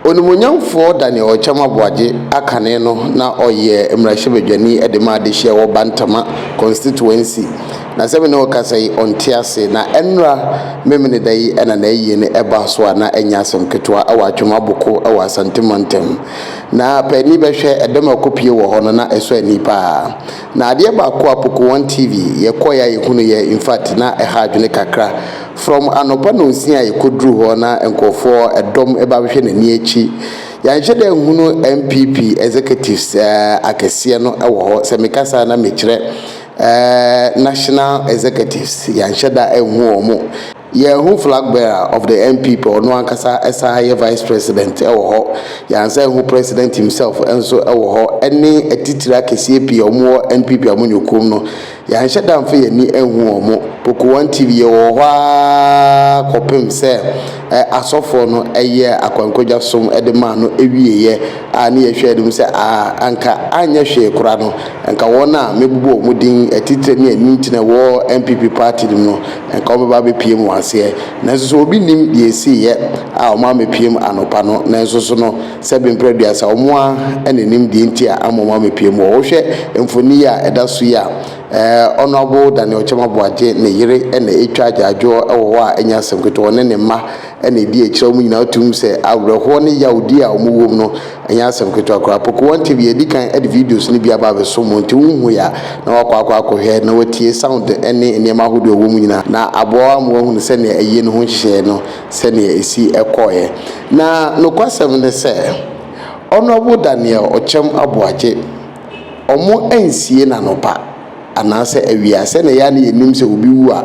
Onimuonyamfoɔ Daniel Ɔkyɛm Aboagye akane no na ɔyɛ mmarahyɛbadwani de ma adehyeɛ wɔ Bantama Constituency. Na sɛ me ne wo kasa yi, ɔnte ase. Na ɛnnora Memeneda yi na n'ayie no ɛbaa so a na ɛnyɛ asɛm ketewa wɔ Atwem Aboko wɔ Asante Mantam. Na paani bɛhwɛ, ɛdɛm a ɛkɔpue wɔ hɔ no na ɛsɔ ani pa ara. Na adeɛ baako a Poko One TV yɛ kɔeɛ a yɛhunu yɛ in fact na ɛha adwene kakra from anɔpa nonsia a yɛkɔduruu hɔ na nkorɔfoɔ ɛdɔm ɛba abɛhwɛ n'ani akyi yɛanhyɛ da anhunu NPP executives eh akɛseɛ no ɛwɔ hɔ sɛ meka saa na mekyerɛ eh national executives yɛanhyɛ da anhu wɔn Yɛn ho flag bearer of the NPP ɔno ankasa san yɛ vice president wɔ hɔ, yɛn asan ho president himself nso wɔ hɔ ɛne atitire akɛseɛ pii a wɔn wɔ NPP a wɔn nyɛ okuom no. Yɛanhyɛ da anfa yɛn ani anhu wɔn. Poku one TV yɛ wɔ hɔ ara kɔpem sɛ asɔfoɔ no yɛɛ akwankwadwa som de maa no wieɛ a ne yɛhwɛ anim sɛ aa anka anyɛ hwee kora no nka wɔn a mɛbobɔ wɔn din atitire ne anintina wɔ NPP party no mu no Anka wɔbɛba abɛpue mo aseɛ, nanso sɛ obi nnim deɛ ɛsiiɛ a wɔn amɛpuem anɔpa no, nanso so no sɛ bemprɛ aduasa, wɔn ara na ɛnim deɛ nti a ama wɔn amɛpue mo hɔ. Wohwɛ mfoni yi a ɛda so yi a, ɛɛ Honourable Daniel Kyɛm Aboagye ne yere na ɛtwa agyaadwoɔ wɔ hɔ a ɛnyɛ asɛm ketewa, ɔne ne mma, na edi akyire a wɔn nyinaa to mu sɛ awerɛhoɔ ne yawdie a wɔwɔ mu no nyɛ asɛm ketewa koraa. Pokua Ntv adi kan de videos no bi aba abɛsom mo nti wohui a na wɔakɔ akɔ akɔhwɛ na wɔatie sound ne nneɛma ahodoɔ a ɛwɔ mu nyinaa na aboa wo ama woahunu sɛdeɛ ayie no ho nhyehyɛeɛ no sɛdeɛ ɛsi kɔeɛ. Na nokwasɛm ne sɛ Honourable Daniel Ɔkyɛm Aboagye wɔn ansie no anɔpa. anaasɛ awia a, sɛnea yɛn a na yenim sɛ obi wu a,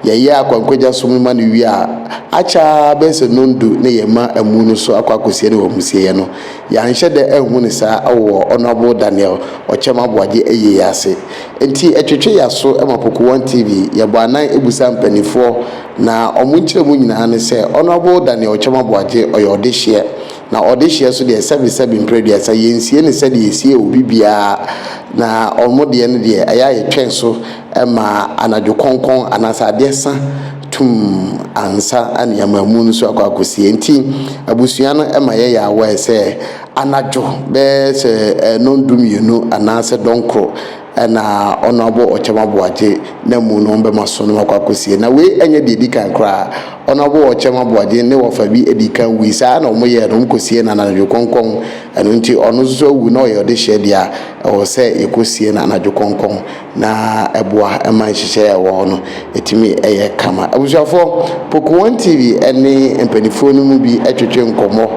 yɛyɛ akwankwagya som no ma no wie a, akyɛ ara bɛyɛ sɛ nnɔndu na yɛma amu no so akɔ akosie no wɔ amusieɛ no. Yɛanhyɛ da anhu no saa wɔ Honourable Daniel Ɔkyɛm Aboagye ayie yi ase. Enti ɛtwetwe yɛn aso ma Poku One TV, yɛbɔ anan bisa mpaninfoɔ, na wɔn nkyerɛmu nyinaa ne sɛ Honourable Daniel Ɔkyɛm Aboagye ɔyɛ ɔdehyeɛ, Na ɔdehyeɛ so deɛ sɛbe sɛbe mprɛduasa yɛnsie no sɛdeɛ yɛsie obi biara na wɔn deɛ no deɛ ɛyɛ a yɛtwɛn so ma anadwo kɔnkɔn anaasɛ adeɛ sa tumm ansa ne yɛama amu no so akɔ akɔsie nti abusua no ma yɛyɛ aware sɛ anadwo bɛyɛ sɛ ɛnɔn du mmienu anaasɛ dɔnkoro na ɔno abo ɔkyɛm aboagye na mu no ɔmbɛma so no makɔ akosie na wei ɛnyɛ deɛ ɛdi kan koraa ɔno abo ɔkyɛm aboagye ne wɔfa bi ɛdi kan wui saa na ɔmo yɛɛ no ɔmo kɔsiee no anadwo kɔnkɔn ɛno nti ɔno nso so awu na ɔyɛ ɔdehyeɛ deɛ a ɛwɔ sɛ yɛkɔsie no anadwo kɔnkɔn na ɛboa ɛma nhyehyɛeɛ a ɛwɔ hɔ no ɛtumi ɛyɛ kama abusuafoɔ Poku 1 TV ɛne mpaninfoɔ no mu bi ɛtwetwe nkɔmmɔ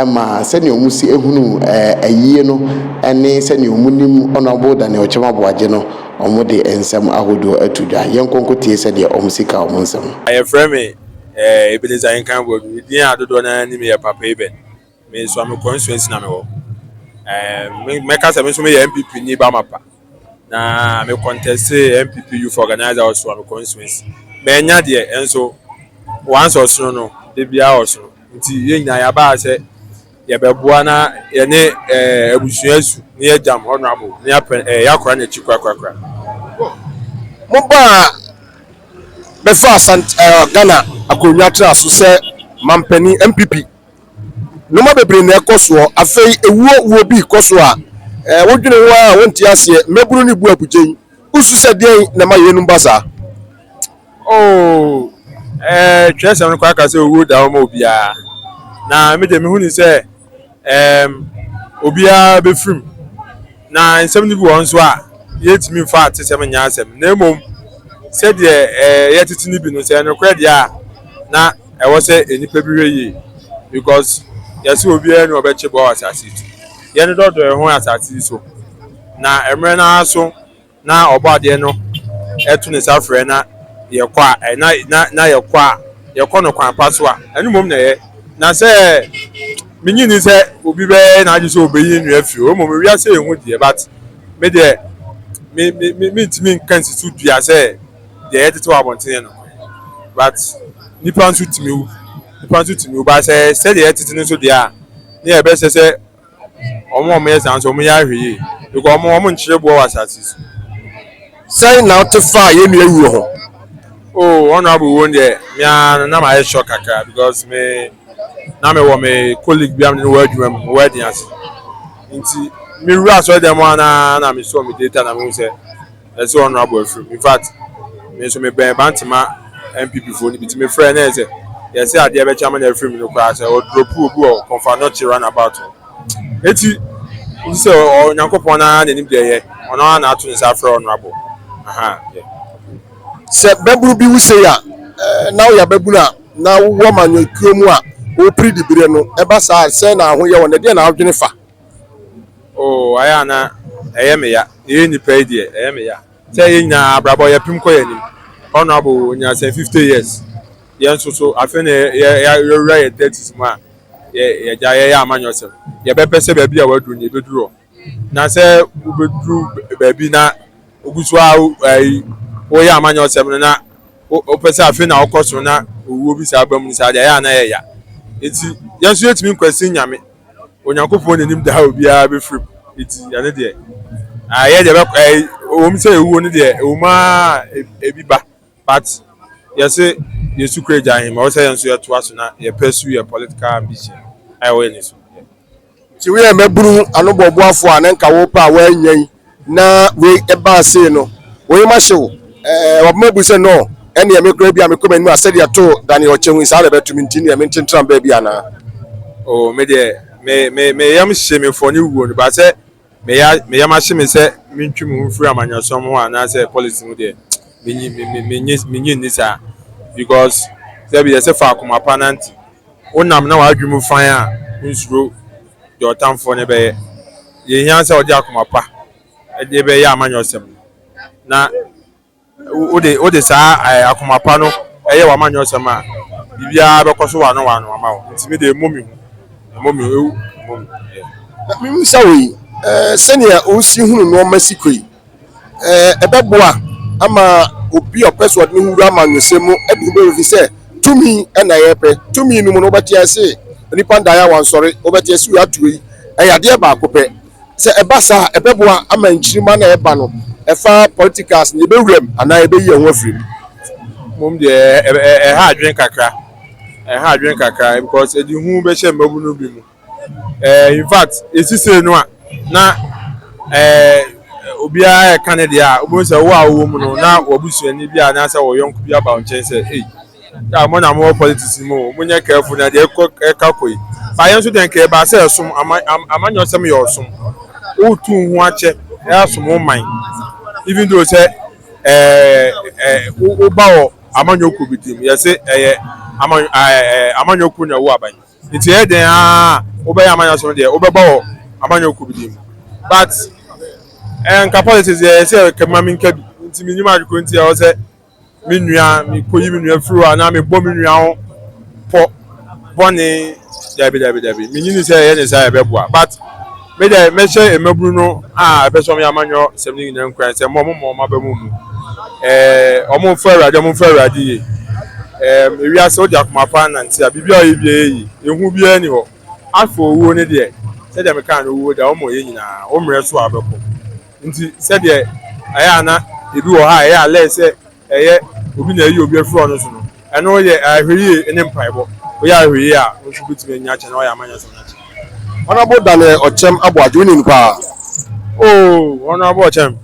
ma sɛnea wɔsi hunu ayie no ne sɛnea wɔnim Honourable Daniel Kyem Aboagye no, wɔde nsɛm ahodoɔ ato dwa. Yɛnkɔ nkɔtie sɛdeɛ wɔsi ka wɔn nsɛm. Yɛfrɛ me eh, Ebenezer Nkan Boadu. Me din a dodoɔ no ara nim yɛ Papa Eben. Me nso, me constituency na mewɔ. Eh, mɛka sɛ me nso meyɛ NPP ni ba mapa. Na me kɔntɛse NPP youth organizer ɔso a me constituency. Manya deɛ ɛnso once ɔsono no debia ɔsono. Nti yɛn nyinaa yɛabaa sɛ yɛbɛboa na yɛne eh, abusua su na yɛagyam honorable na yɛapɛ eh, yɛakora n'akyi korakorakora. Mobaa bɛfaa Sant eh, Ghana akonnwa tena so sɛ mampanin NPP. Nnoɔma bebree na ɛkɔ soɔ. Afei ewuo wuo bi kɔ so a, ɛɛ wodwene ho ara a wonte aseɛ. Mmabunu no bu abugyen. Wosu sɛ deɛn na ɛma yeinom ba saa? Oh, eh, twerɛsɛm no koraa ka sɛ owuo da hɔ ma obiara. Na me deɛ mehu ne sɛ, ɛɛm, obiara bɛfirim. Na nsɛm no bi wɔ hɔ nso a, yɛntumi mfa atesɛm nyɛ asɛm, na mmom sɛdeɛ ɛyɛ tete no bi no, sɛ ɛyɛ nokorɛ deɛ a, na ɛwɔ sɛ nnipa bi hwɛ yie because yɛse obiara ni ɔbɛkye bɔ wɔ asase yi so. Yɛn dɔdɔ yɛn ho wɔ asase yi so, na mmerɛ no ara so. na ɔbɔadeɛ no to ne nsa frɛ na yɛkɔ a eh, na, na, na yɛkɔ a yɛkɔ no kwan pa so a ɛno mmom na ɛyɛ na sɛ menyi ni sɛ obi bɛyɛ n'adwe sɛ obeyi ne nua fi hɔ mmom wiase yɛ hu deɛ but me deɛ me me me mentumi nka nsi so dua sɛ deɛ ɛyɛ tete wɔ abɔntene no but nipa nso tumi wu nipa nso tumi wu ba sɛ sɛdeɛ ɛyɛ tete no nso deɛ a ne yɛbɛsɛ sɛ Wɔn a wɔyɛ saa nso, wɔyɛ ahwɛ yie because wɔn wɔnkyerɛ boɔ wɔ asase so. Sɛn na wote faa yɛn nua wuo ho? Oh, honorable wo deɛ, me ara na mayɛ shock kakra because me na mewɔ me colleague bi a me ne wɔ adwuma mu, wɔ ɛden ase. Nti, mewura asɔre dan mu a na na mesɔ me data na mehu sɛ Ɛsɛ sɛ honourable afiri mu. In fact, me nso me bɛn Bantama NPP foɔ no bi nti me frɛ no ɛyɛ sɛ deɛ sɛ adeɛ bɛkye ama no afiri mu no koraa sɛ ɔ drop obi wɔ Komfo Anokye run about hɔ. Eti nti sɛ ɔ Nyankopɔn no ara na ɛnim deɛ ɛyɛ, ɔno ara na ato ne nsa afrɛ honourable. Ahaa deɛ. Sɛ bɛbunu bi wo sei a, na woyɛ ababunu a na wowɔ amanyɔkuo mu a, wopiri diberɛ no, ɛba saa a, sɛn na wo ho yɛ wo nnɛ? Deɛn na wodwene fa? Oo ayɛ a na ɛyɛ me ya, yɛyɛ nnipa yi deɛ ɛyɛ me ya. Sɛ yɛn nyinaa abrabɔ yɛpem kɔ yɛn anim. Honourable ɔnya sɛ fifty years, yɛn nso so afei na yɛawura yɛn thirties mu a yɛagya yɛyɛ amanyɔsɛm. Yɛbɛpɛ sɛ baabi a waduru no yɛbɛduru hɔ. Na sɛ wobɛduru baabi na wogu so ara ayi woyɛ amanyɔsɛm no na wopɛ sɛ afei na wokɔ soro na owuo bi saa ba mu no saa deɛ ayɛ a na ɛyɛ ya. Nti yɛn nso yɛtumi nkwasi Nyame. Onyankopɔn na enim deɛ obiara bɛfiri mu, enti ɛno deɛ, yɛn deɛ ɛbɛkɔ ɛɛ wɔn sɛ ewuo no deɛ ɛwɔ mu ara ebi ba, but yɛse yɛsu kura Agya Ahemma, wɔsɛ yɛn nso yɛtoa so na yɛ pursue yɛ political ambition a ɛwɔ yɛn ani so. Nti woyɛ mmabunu anobɔboafoɔ a na nka wopɛ a woannya yi, Na wei ɛbaa sei no, wo yem ahye wo. Ɛɛ, wɔbɛma bu sɛ, Nɔɔ, ɛnneɛ me koraa bi a mekɔ m'anim a sɛdeɛ too Daniel ɔkyɛ hui saa na ɛbɛto me nti neɛ mententra baabi anaa? O, me deɛ, me, me, me yam hye me fɔ ne wuo no, but sɛ me ya, me yam ahye me sɛ mentwi me ho mfiri amanyɔsɛm ho anaasɛ politics ho deɛ, menyi, me, me, menyi, menyi nni saa. Because, sɛbi yɛse fa akoma pa nante. Wonam na w'adwene mu fann a, wonsuro deɛ ɔtamfoɔ no bɛyɛ. Deɛ ɛhia sɛ wode akoma pa de bɛyɛ amanyɔsɛm no, na wode wode saa ɛɛ akoma pa no ɛyɛ w'amanyɔsɛm a, biribiara bɛkɔ so wano wano ama wo. Nti me deɛ ɛmmɔ me hu, ɛmmɔ me hu, ɛmmɔ me hu. Yeah. Na mebisa wo yi, ɛɛ sɛdeɛ wosi hunu nnoɔma si kɔ yi, ɛɛ ɛbɛboa ama obi a ɔpɛ sɛ ɔde ne ho wura amanyɔsɛm mu de ho bɛwura fi sɛ tumi na yɛpɛ tumi no mu no wobɛte ase nnipa ndaeɛ a wɔnsɔre wobɛte ase wei ato wei ɛyɛ adeɛ baako pɛ sɛ ɛba saa a ɛbɛboa ama nkyirimma no a ɛba no ɛfa politics no yɛbɛwura mu anaa yɛbɛyi yɛn ho afiri mu. mmom deɛ ɛha adwene kakra ɛha adwene kakra because ɛde hu bɛhyɛ mmabunu bi mu Eh, in fact, esi sei no a, na eh, obiara ɛka ne deɛ a, wobɛhu sɛ wo a wowɔ mu no, na w'abusuani bi anaasɛ wɔ yɔnko bi aba wo nkyɛn sɛ, ei, yɛ a mo na mowɔ politics no mu o, monyɛ careful na deɛ ɛkɔ ɛka kɔ yi. Ba yɛn nso deɛ nka ɛbaa sɛ ɛsom, ama, am, amanyɔsɛm yɛ ɔsom. Wotu wo ho akyɛ, ɛasom wo man. Even though sɛ eh, eh, wo, woba wɔ amanyɔkuo bi ti mu, yɛse ɛyɛ ama, eh, eh, amanyɔkuo na ɛwo aban. Nti ɛyɛ dɛn ara a wobɛyɛ amanyɔsɛm no deɛ wobɛba wɔ amanyɔkuo bi deɛ mu but ɛɛ nka politics deɛ ɛyɛ sɛ kɛbi ma menka bi nti menim ade koro nti ɛwɔ sɛ me nua mekɔyi me nua firi hɔ anaa mebɔ me nua ho pɔ bɔne dabi dabi dabi menyini sɛ ɛyɛ ne saa ɛbɛboa but Me dɛ, mɛhyɛ mmabunu no a ɛpɛ sɛ wɔyɛ amanyɔ sɛm no nyinaa nkuran sɛ mma wɔmma wɔn aba mu mmu. Ɛɛ, wɔmfa Awurade, wɔmfa Awurade yie. Ɛɛm, ewiase wode akoma pa anante a, biribiara a wɔyɛ biara yɛ yie. Ehu biara nni hɔ. Afei owuo no deɛ, sɛdeɛ mekaa no, owuo de, wɔmmɔ yɛn nyinaa. Wo mmerɛ so a wobɛkɔ. Nti, sɛdeɛ ɛyɛ a na ebi wɔ hɔ a ɛyɛ a lɛɛ sɛ Ɛyɛ obi na ayi obi afiri ɔno so no, ɛno yɛ ahwɛyie ne mpaebɔ. Woyɛ ahwɛyie a, wo nso wobɛtumi anya akyɛ na woayɛ ama nyansa no akyɛ. Honourable Daniel Ɔkyɛm Aboagye, wonim no paa? Oh, Honourable Ɔkyɛm.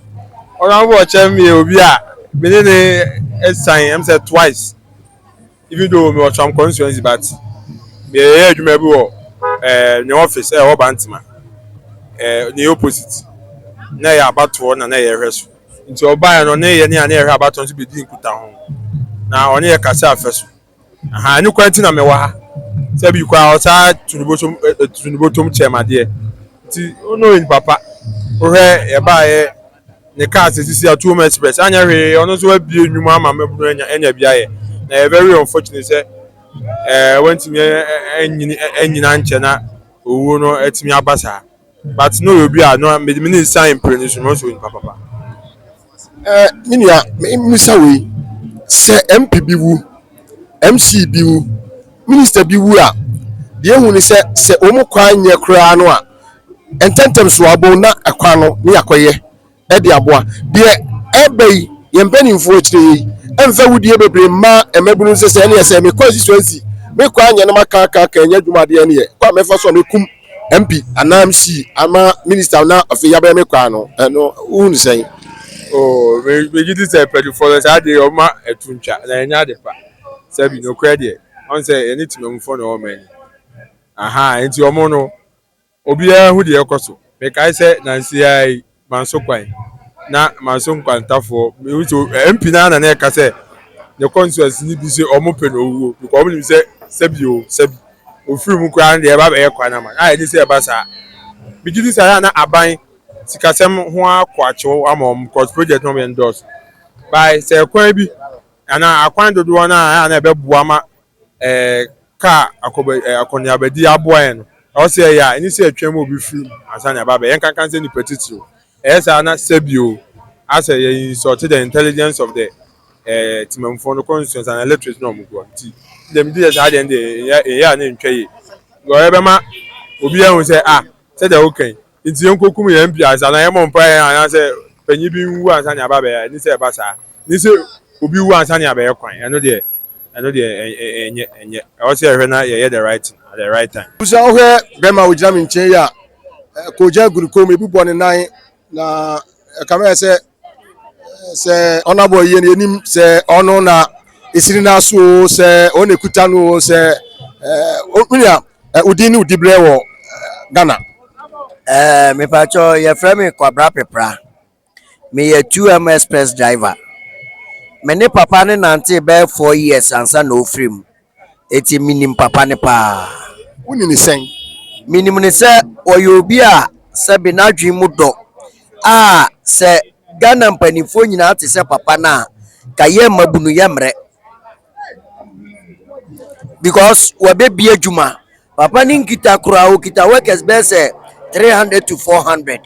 Honourable Ɔkyɛm yɛ obi a me ne no asiane, ɛm sɛ twice. Even though mewɔ Tram constituency but meyɛyɛ adwuma bi wɔ eh, ne office ɛwɔ Bantama eh, ne opposite na ɛyɛ abatoɔ na na yɛhwɛ so nti ɔbaeɛ no ɔne yɛ ne a na yɛhwɛ abatoɔ nso bɛdi nkuta ho na ɔne yɛ kase afɛ so aha ɛno kwan nti na mewɔ ha sɛ bi kɔ a ɔsaa tunubotom eh, tunubotom kyɛm adeɛ nti ɔno yɛ nipa pa wohwɛ yɛbaeɛ ne kaa sɛ sisi atom express anyɛ hwee ɔno nso abie nnwuma ama mmabunu anya anya bi ayɛ na ɛyɛ very unfortunate sɛ ɛɛ eh, wantumi anyini anyina nkyɛ na owuo no atumi aba saa but na ɔyɛ obi a na mede me ne nsa mpere ne so na ɔsɛ onipa papa ɛɛ eh, me nua mmisa wei sɛ mp bi wu mc bi wu minister bi wu a deɛ ehu ne sɛ sɛ wɔn kwan nyɛ koraa no a ntɛmntɛm so a bɛhu na ɛkwan no ne yɛakɔyɛ de aboa. Deɛ ɛreba yi, yɛn mpanimfoɔ akyire yi mfa awudie bebree mma mmabunu no sɛ sɛ ɛneɛ sɛ mekɔ asusuansi mekɔ anyɛ no makaakaka anya adwuma adeɛ ɛneɛ kwan a mɛfa so a mɛkum MP anaa MC ama minister na afei yɛabɛyɛ me kwan no ɛno wohu no sɛn? Oh, megye di sɛ mpanimfoɔ no saa adeɛ ɔma ɛto ntwa na ɛnyɛ ade pa sɛbi nokorɛ deɛ ɔn sɛ ɛne temammufoɔ na ɔma ani Aha nti ɔmo no obiara hu deɛ ɛkɔ so. Mekae sɛ nansi ara yi manso kwan na manso nkwantafoɔ mehu sɛ eh, MP no ara na na ɛka sɛ ne constituency no bi sɛ ɔmo pɛ no owuo because ɔmo nim sɛ sɛbi o sɛbi ofiri mu koraa no deɛ ɛba bɛyɛ kwan ama a ɛni sɛ ɛba saa megye di saa na aban sikasɛm ho akɔ akyew ama ɔmo because project no ɔmo yɛ ndɔɔso by sɛ kwan bi anaa akwan dodoɔ no a na ɛbɛboa ma Ka akɔneabadi aboa yɛn no, ɛwɔ sɛ yɛyɛ a ɛnyɛ sɛ yɛtwɛn ma obi firi mu ansa na yɛaba abɛyɛ. Yɛnka nka sɛ nnipa titiriw, ɛyɛ saa na sɛbi o, ayɛ sɛ yɛ insult the intelligence of the Temamufoɔ no constituents anaa electorate no a wɔgu hɔ no. Nti me deɛ megye sɛ saa deɛ no deɛ yɛnyɛ yɛnyɛ a na ɛntwa yie. Because ɛbɛma obi ahu sɛ ah sɛdeɛ woka yi nti yɛnkɔkum yɛn MP ansa anaa yɛmmɔ mpaeɛ anaasɛ panyin bi nwu ansa na yɛaba abɛyɛ a, ɛnni sɛ ɛba saa. Ɛnni sɛ obi wu ansa na yɛabɛyɛ kwan, ɛno deɛ. ɛno deɛ ɛnyɛ ɛnyɛ ɛwɔ sɛ yɛhwɛ na yɛyɛ the right thing at the right time. Busa wohwɛ bɛrima a ogyina me nkyɛn yi a kogya gu ne kɔn mu ebi bɔ ne nan na ɛkame ayɛ sɛ sɛ ɔnabɔ yie no yɛnim sɛ ɔno na ɛsiri no aso o sɛ ɔno na ɛkuta no o sɛ wonua wodin ne wodi berɛ wɔ ghana mepakyɛ yɛfrɛ me kwabra pepra Meyɛ 2M express driver. Me ne papa no nantee bɛyɛ four years ansa na ɔfiri mu. Enti menim papa no paa. Wonim no sɛn? Menim no sɛ ɔyɛ obi a sɛbe n'adwene mu dɔ a sɛ Ghana mpanimfoɔ nyinaa te sɛ papa no a, nka yɛn mmabunu yɛmmrɛ. Because wɔabɛbue adwuma. Papa no nkita koraa, ɔkita workers bɛyɛ sɛ three hundred to four hundred.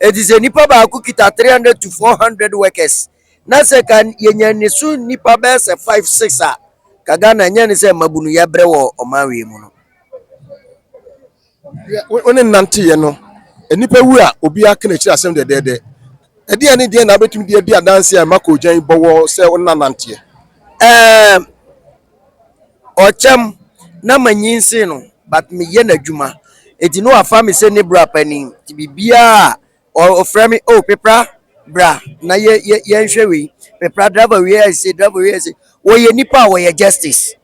Ɛti sɛ nipa baako kita three hundred to four hundred workers na sɛ ka yɛnya ne so nipa bɛyɛ sɛ five six a, ka Ghana nyɛ ne sɛ mmabunu yɛbrɛ wɔ ɔman wei mu no. Wo ne no nanteeɛ no, nnipa wu a, obiara ka n'akyiri asɛm dɛdɛɛdɛ. Ɛdeɛn ne deɛn na wobɛtumi de adi adanseɛ a ɛma koogyan bɔ wɔ sɛ wo ne no nanteɛ? Ɛɛ, ɔkyɛm na manyinsen no, but meyɛ n'adwuma. Enti na wafa me sɛ ne bra panin, nti biribiara a Ɔfrɛ me, oh Pepra bra na yɛ yɛ yɛnhwɛ wei. Pepra driver wei ayɛ sei, driver wei ayɛ sei. Wɔyɛ nipa a wɔyɛ justice.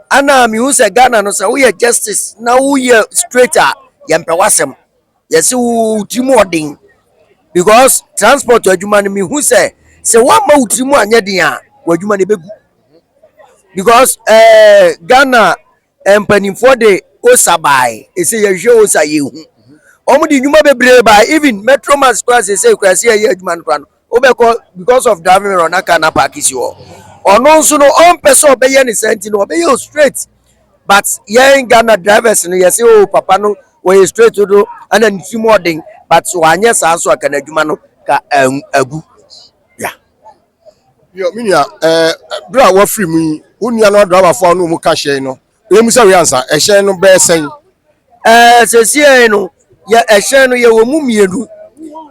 Ana mehu sɛ Ghana no sɛ woyɛ justice na woyɛ straight a yɛmpɛ w'asɛm. Yɛse wo tirim ɔden because transport adwuma no mehu sɛ sɛ woamma wo tirim anyɛ den a w'adwuma no ɛbɛgu because ɛɛ eh, Ghana Mpanimfoɔ de osa baeɛ ɛsɛ yɛhwɛ osa yɛhu wɔn de nnwuma bebree baeɛ even metro max koraa sɛsɛ koraa sɛ yɛyɛ adwuma no koraa no wobɛkɔ because of driving error na car na paaki si hɔ ɔno nso no ɔmpɛ sɛ ɔbɛyɛ ne saa nti no ɔbɛyɛ o straight but yɛn Ghana drivers no yɛsɛ o oh, papa no wɔyɛ straight do ana ne tirim ɔden but so anyɛ saa nso aka n'adwuma no ka agu yeah. Yo, me nua, ɛɛ bere a wafiri mu yi, wo nua no adrabafo a wɔn ka hyɛn no, wɔn mu sɛ wei ansa, ɛhyɛn no bɛyɛ sɛn? Ɛɛ sɛsiɛ no, yɛ ɛhyɛn no yɛwɔ mu mmienu,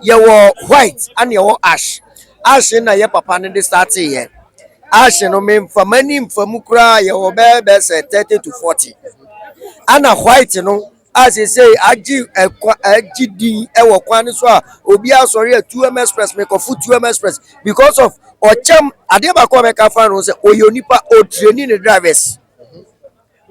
yɛwɔ white ɛna yɛwɔ ash. Ash na yɛ papa no de startee yɛ. Ash no me nfa m'ani nfa mu koraa yɛwɔ bɛɛ bɛsɛ thirty to forty. Ɛna white no. a seesei agye ɛkwa agye din ɛwɔ kwan no so a obi asɔre a 2M Express mekɔfo 2M Express because of ɔkyɛm adeɛ baako a mɛka fa no sɛ ɔyɛ onipa ɔtreni ne drivers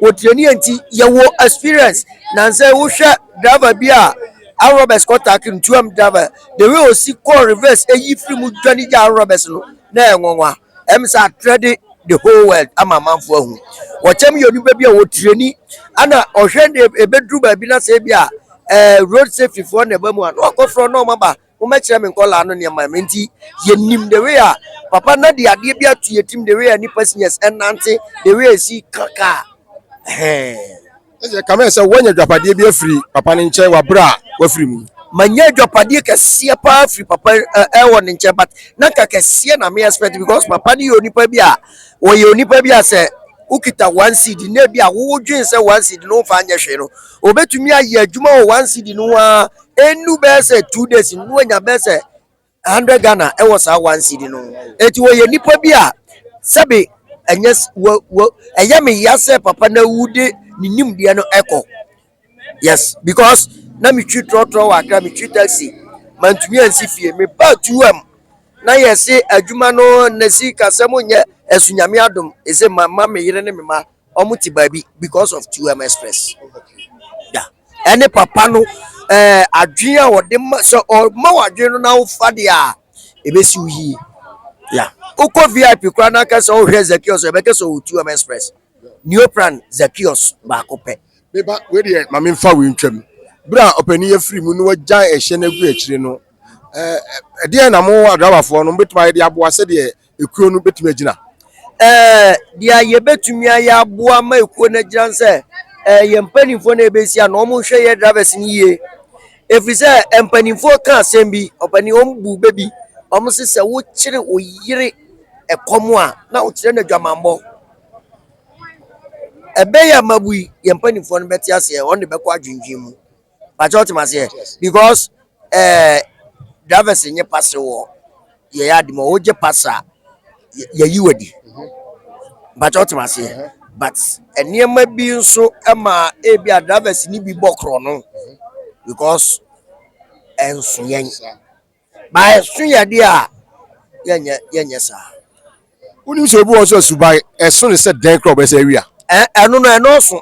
ɔtreni nti yɛwɔ experience na sɛ wohwɛ driver bi a arm robbers kɔtake no 2M driver the way ɔsi kɔɔ reverse ɛyi firi mu dwane gya arm robbers no na ɛyɛ nwanwa Ɛm sɛ atrɛde the whole world ama amanfoɔ ahu. Wɔkyɛm yɛ onipa bi a wɔtirani ana ɔhwɛ ne ɛbɛduru baabi na sɛ bi a eh, road safety foɔ na ɛba mu a na wakɔfrɛ na ɔma ba mommɛkyerɛ me nkɔlaa no nneɛma me nti yɛnim the way a papa na de adeɛ bi ato yɛtim the way a nipa seniors ɛnante the way a ɛsi ka kaa Ɛsɛ kame sɛ woanya adwapadeɛ bi afiri papa no nkyɛn wɔ abere a wafiri mu. Manya adwapadeɛ kɛseɛ paa firi papa ɛwɔ ne nkyɛn but na nka kɛseɛ na me expect because papa no yɛ onipa bi a wɔyɛ onipa bi a sɛ wokita one seed na ebi a wodwen sɛ one seed no wofa nyɛ hwee no obetumi ayɛ adwuma wɔ one seed no ho ara ɛnnu bɛyɛ sɛ two days no na wanya bɛyɛ sɛ 100 Ghana wɔ saa one cedi no ho. Enti wɔyɛ nnipa bi a sɛbe ɛnyɛ s- wɔ wɔ ɛyɛ me ya sɛ papa no awu de ne nimdeɛ no ɛkɔ. Yes, because na metwi trɔtrɔ wɔ Accra, metwi taxi, mantumi ansi fie. Mebaa 2M na yɛse adwuma no ne sikasɛm nyɛ ɛso Nyame adom, ɛse mamma me yere ne me mma Ɔmo te baabi because of 2M express da ɛne papa no ɛɛ adwene a ɔde ma sɛ ɔma wɔ adwene no na wofa deɛ a ebesi wo yie ya wokɔ vip koraa na aka sɛ ɔhwɛ zakios ɛbɛka sɛ ɔwɔ 2M express neopran zakios baako pɛ. Meba wei deɛ ma memfa wei ntwam berɛ a ɔpanin yɛ firi mu na wagyae ɛhyɛ no agu akyire no ɛɛ ɛdeɛn na mo adrabafoɔ no mobɛtumi ayɛ de aboa sɛdeɛ ekuo no bɛtumi agyina. Ɛɛ deɛ a yɛbɛtumi ayɛ aboa ma ekuo no agyina no sɛ ɛɛ yɛn mpanimfoɔ na yɛbɛsi ano wɔn hwɛ yɛ drivers no yie ɛfiri sɛ mpanimfoɔ ka asɛm bi ɔpanin wɔn bu bɛ bi wɔn se sɛ wokyere wo yere ɛkɔm a na wokyerɛ no adwamammɔ ɛbɛyɛ amabui yɛn mpanimfoɔ no bɛte aseɛ wɔn de bɛkɔ adwendwen mu. Pakyɛ ɔte ma seɛ because ɛɛ eh, drivers nye pass wɔ yɛ yɛ adi ma ɔwɔ gye pass a yɛ yi wɔ di. Pakyɛ ɔte ma seɛ but nneɛma bi nso ɛma ebi a drivers ni bi bɔ korɔ no because ɛnso yɛn. Ba ɛso yɛ de a yɛnyɛ yɛnyɛ saa. Wonim sɛ obi wɔ so asuban ɛso ne sɛ dɛn korɔ bɛsɛ awia. Ɛno no ɛnɔɔso.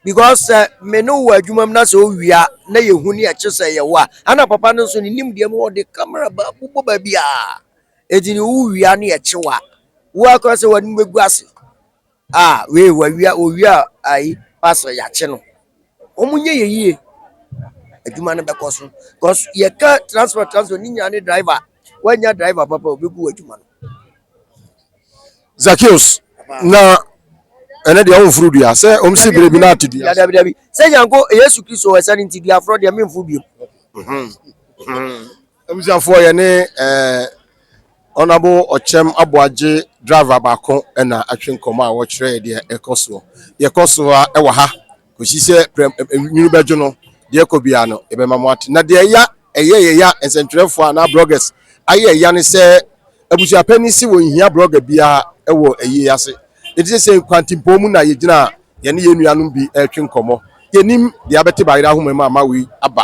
because sɛ me ne wo wɔ adwuma mu na sɛ ɔwie a na yɛhu ne ɛkye sɛ yɛwɔ a ana papa no nso ne nimdeɛ mu ɔde kamera bobɔ baabi a ɛti ne wowie a ne ɛkye wa wo akora sɛ w'anim bɛgu ase a wei wawie a ɔwie a ayi pastor yɛakye no wɔn nyɛ yɛ yie adwuma no bɛkɔ so because yɛka transport transport ne nyinaa ne driver woanya driver papa ɔbɛgu w'adwuma no Zacchaeus, na ɛnɛ deɛ ɔmforo dua sɛ ɔmsi berɛ bi na ate dua so. Dabi, dabi. Sɛ nyanko Yesu Kristo ɛsɛ no nti dua forɔ deɛ memforo biom. Abusuafoɔ yɛ ne ɛɛ ɔnabo ɔkyɛm aboagye driver baako ɛna atwe nkɔmɔ a wɔkyerɛ deɛ ɛkɔ soɔ deɛ ɛkɔ soɔ a ɛwɔ ha. kɔsi sɛ prɛm nwunu bɛdwo no, deɛ ɛkɔ biara no, yɛbɛma mo ate. Na deɛ ɛya ɛyɛ yɛya nsɛntwerɛfoɔ anaa bloggers ayɛ ɛya ne sɛ abusuapanin se wɔnhia blogger biara wɔ ayie yi ase. Enti sesei kwantimpɔn mu na yɛgyina a yɛne yɛn nuanom bi retwe nkɔmmɔ. Yɛnnim deɛ abɛte Bayerɛ ahoma mu a Maui aba.